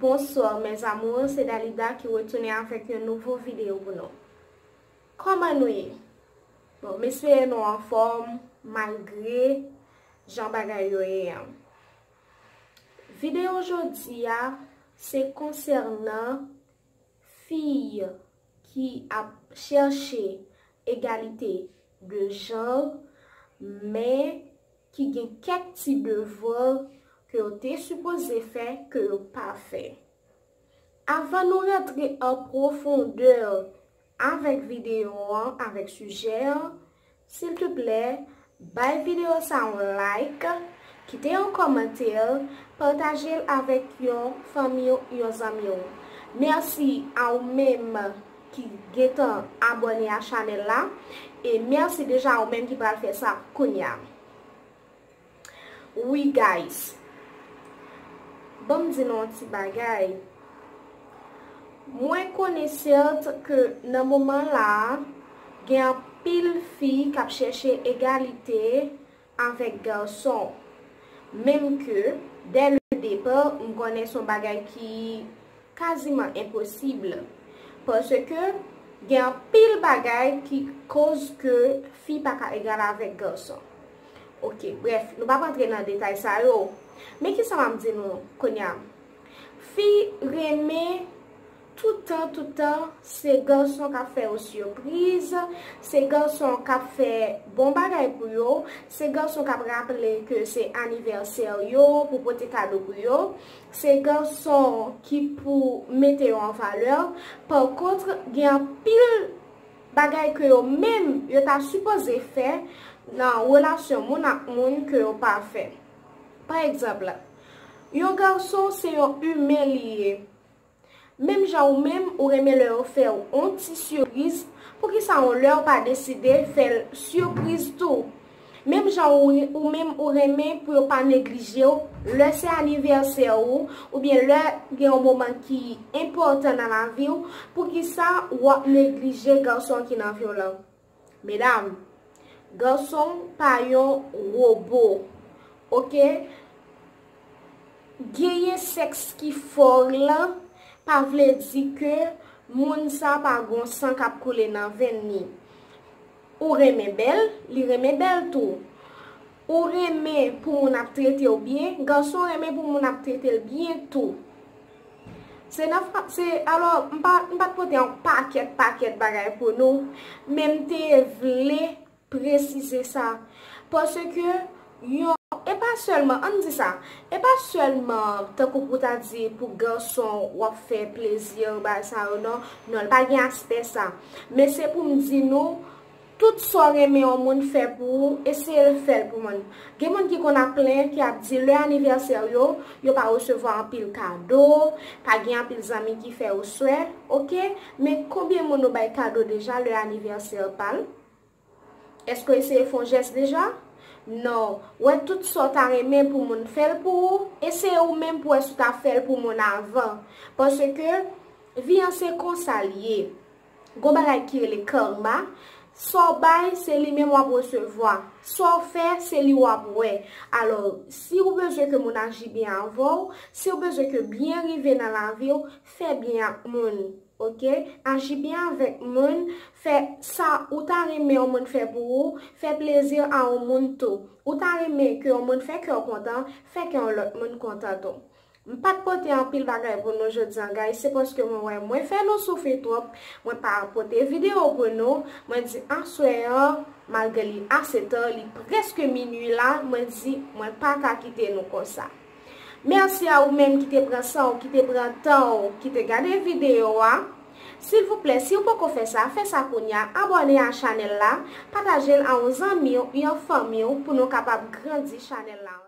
Bonsoir mes amours se Dalida ki retounen avèk yon nouvo video pou nou Kòman nou ye? Bon m espere nou anfòm malgre jan bagay yo ye an Video jodi a se konsènan fi ki ap chèche egalite de genre men ki gen kèk ti devoir ke yo te sipoze fè ke yo pa fè. Avan nou rantre an profondeur avèk video an, avèk sujet an, sil te plè, bay video sa yon like, kite yon commentaire, partage'l avèk yon fanmi'w, yon zanmi'w. Merci a ou menm ki gentan abòne a chanèl la e mèsi deja ou menm ki pral fè sa kounya wi guys banm di nou yon ti bagay mwen konesert ke nan moman la gen anpil fi kap chèche egalite avèk garçon menm ke dès le départ m konnen son bagay ki quasiment impossible parce ke gen anpil bagay ki koz ke fi pa ka egal avèk garçon ok bref nou pap antre nan detay sa yo men kisa map di nou kounya fi renmen Tout tan tout tan se garçon kap fè yo surprise, se garçon kap fè bon bagay pou yo, se garçon kap raple ke se anniversaire yo pou pote kado pou yo, se garçon ki pou mete yo en valeur, par contre gen anpil bagay ke yo menm yo ta supoze fè nan relation moun ak moun ke yo pa fè. Par exemple, yon garçon se yon humain li ye, Menm jan ou menm ou renmen lè yo fèw on ti suriz poukisa on lèw pa deside fèl surpriz tou menm jan ou menm ou renmen pou yo pa neglijew lè se anivèsè ou oubyen lè gen yon moman ki enpòtan nan laviw poukisa wap neglije gason ki nan viw lan. Medam, garçon pa yon robo ok genyen sex ki fort lan pa vle di ke moun sa pa gon san kap koule nan venn li. Ou renmen bèl, li renmen bèl tou. Ou renmen pou moun ap trete w byen, gason renmen pou moun ap trete l byen tou. Se nan frap se, alò m pa m pa t pote yon pakèt pakèt bagay pou nou, men m te vle presize sa. Paske yon, e pa sèlman, an n di sa, e pa sèlman tankou pou ta di pou gason w ap fè plezi, bagay sa yo non, non l pa gen aspè sa. Men se pou m di nou, Tout sa w renmen yon moun fè pou ou, eseye l fè l pou moun. Gen moun ki konn ap plenyen, ki ap di lè anivèsè w yo, yo pa resevwa anpil kado, pa gen anpil zanmi ki fè yo swè. Ok, men konbyen moun ou bay kado deja lè anivèsè pa l? Èske w eseye fè yon jès deja? Non, wè tout sa w ta renmen pou moun fè l pou ou, eseye ou menm pou wè si w ta fè l pou moun avan. Paske, vi an se konsa l ye. Gon bagay ki rele karma, sa w bay se li menm w ap resevwa, sa w fè se li w ap wè. Alò, si ou bezwen ke moun aji byen avè w, si ou bezwen ke byen rive nan lavi w, fè byen ak moun. Ok, aji byen avèk moun, fè sa ou ta renmen yon moun fè pou ou, fè plezi a yon moun tou. Ou ta renmen ke yon moun fè kè w kontan, fè kè yon lòt moun kontan tou. M pat pote anpil bagay pou nou jodi an guys se paske mwen wè mwen fè nou soufri twòp mwen pa pote video pou nou mwen di aswè an malgre li ase ta li preske minwi la mwen di mwen pa ka kite nou konsa merci a ou menm ki te pran san w ki te pran tan w ki te gade video a silvouplè si w poko fè sa fè sa kounya abòne a chanèl la pataje l a yon zanmi w yon fanmi w pou nou kapab grandi chanèl la.